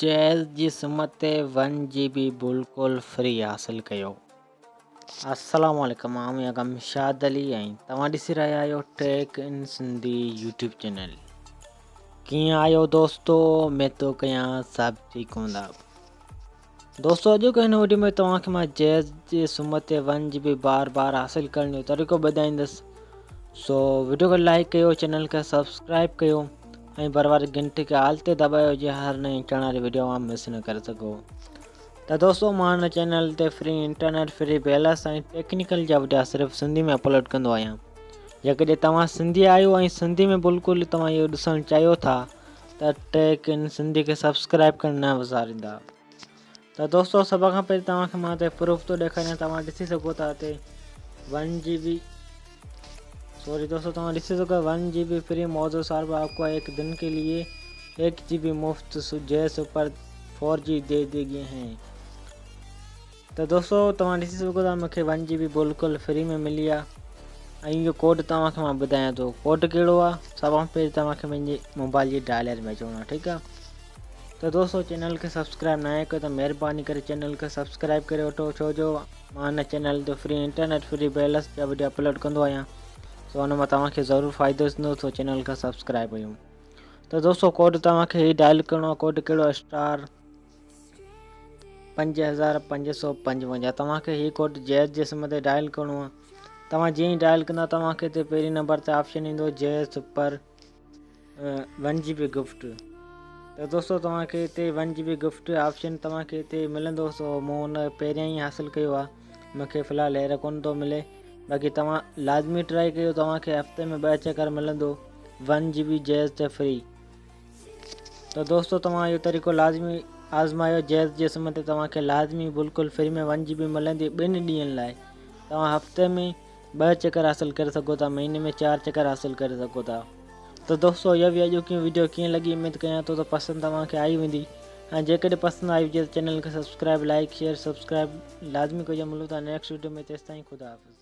Gs جي SIM تي one جي بي بلڪل فري حاصل ڪيو. السلام عليڪم آء ميان گمشاد علي ۽ توهان ڏسي رهيا آهيو tech in Sindhi YouTube channel ڪيئن آهيو دوستو اميد ٿو ڪيان سڀ ٺيڪ هوندا. دوستو اڄوڪي هن وڊيو ۾ توهان کي مان جيز جي سمت تي ون جي بي بار بار حاصل ڪرڻ جو طريقو ٻڌائيندس سو وڊيو کي لائيڪ ڪيو چينل کي سبسڪرائيب ڪيو ۽ بر واري گھنٽي کي آل تي دٻايو جيئن هر نئين اچڻ واري وڊيو اوهان مس نه ڪري سگھو ته دوستو مان هن چينل تي free internet free balance ۽ technical جا وڊيا صرف سنڌي ۾ اپلوڊ ڪندو آهيان جيڪڏهن توهان سنڌي آهيو ۽ سنڌي ۾ بلڪل توهان اهو ڏسڻ چاهيو ٿا ته ته ٽيڪ ان سنڌي کي سبسڪرائيب ڪرڻ نه وساريندا ته دوستو سڀ کان پهرين توهان کي مان هتي پروف ٿو ڏيکاريان توهان ڏسي سگهو ٿا هتي ون جي بي سوري دوستو توهان ڏسي سگهو ون جي بي فري موضوع صاحب آپ کو هڪ دن کي لئي هڪ جي بي مفت جي سپر فور جي دي دي گئي هين ته دوستو توهان ڏسي سگهو ٿا مونکي ون جي بي بلڪل فري ۾ ملي آ ۽ اهو ڪوڊ توهان کي مان ٻڌايان ٿو ڪوڊ ڪهڙو آ سڀ کان پهرين توهان کي پنهنجي موبائل جي ڊائلر ۾ اچڻو آ ٺيڪ آ ته دوستو چينل کي سبسڪرائب نه آهي ڪيو ته مهرباني ڪري چينل کي سبسڪرائب ڪري وٺو ڇو جو مان هن چينل تي فري انٽرنيٽ فري بيلنس جا وڊيو اپلوڊ ڪندو آهيان سو ان مان توهان کي ضرور فائدو ٿيندو سو چينل کي سبسڪرائب ڪيو ته دوستو ڪوڊ توهان کي هي ڊائل ڪرڻو آ ڪوڊ ڪهڙو اسٽار پنج هزار پنج سؤ پنجونجاهه توهان کي هي ڪوڊ جيز جي سم تي ڊائل ڪرڻو آهي توهان جيئن ئي ڊائل ڪندا توهان کي هتي پهرين نمبر تي آپشن ايندو جيز سپر ون جي بي گفٽ ته دوستو توهان کي هتي ون جي بي گفٽ آپشن توهان کي هتي ملندو سو مون ان پهريان ئي حاصل ڪيو آهي مونکي في الحال هير ڪونه ٿو ملي باقي توهان لازمي ٽرائي ڪيو توهان کي هفتي ۾ ٻه چڪر ملندو ون جي بي جيز تي فري ته دوستو توهان اهو طريقو لازمي آزمايو جيز جي سم تي توهان کي لازمي بلڪل فري ۾ ون جي بي ملندي ٻن ڏينهن لاء توهان هفتي ۾ ٻه چڪر حاصل ڪري سگهو ٿا مهيني ۾ چار چڪر حاصل ڪري سگهو ٿا ته دوستو اها هئي اڄوڪي ويڊيو ڪيئن لڳي اميد ڪيان ٿو ته پسند توهان کي آئي ويندي ۽ جيڪڏهن پسند آئي هجي ته چينل کي سبسڪرائب لائڪ شيئر سبسڪرائب لازمي ڪجو ملون ٿا نيڪسٽ ويڊيو ۾ تيستائين خدا حافظ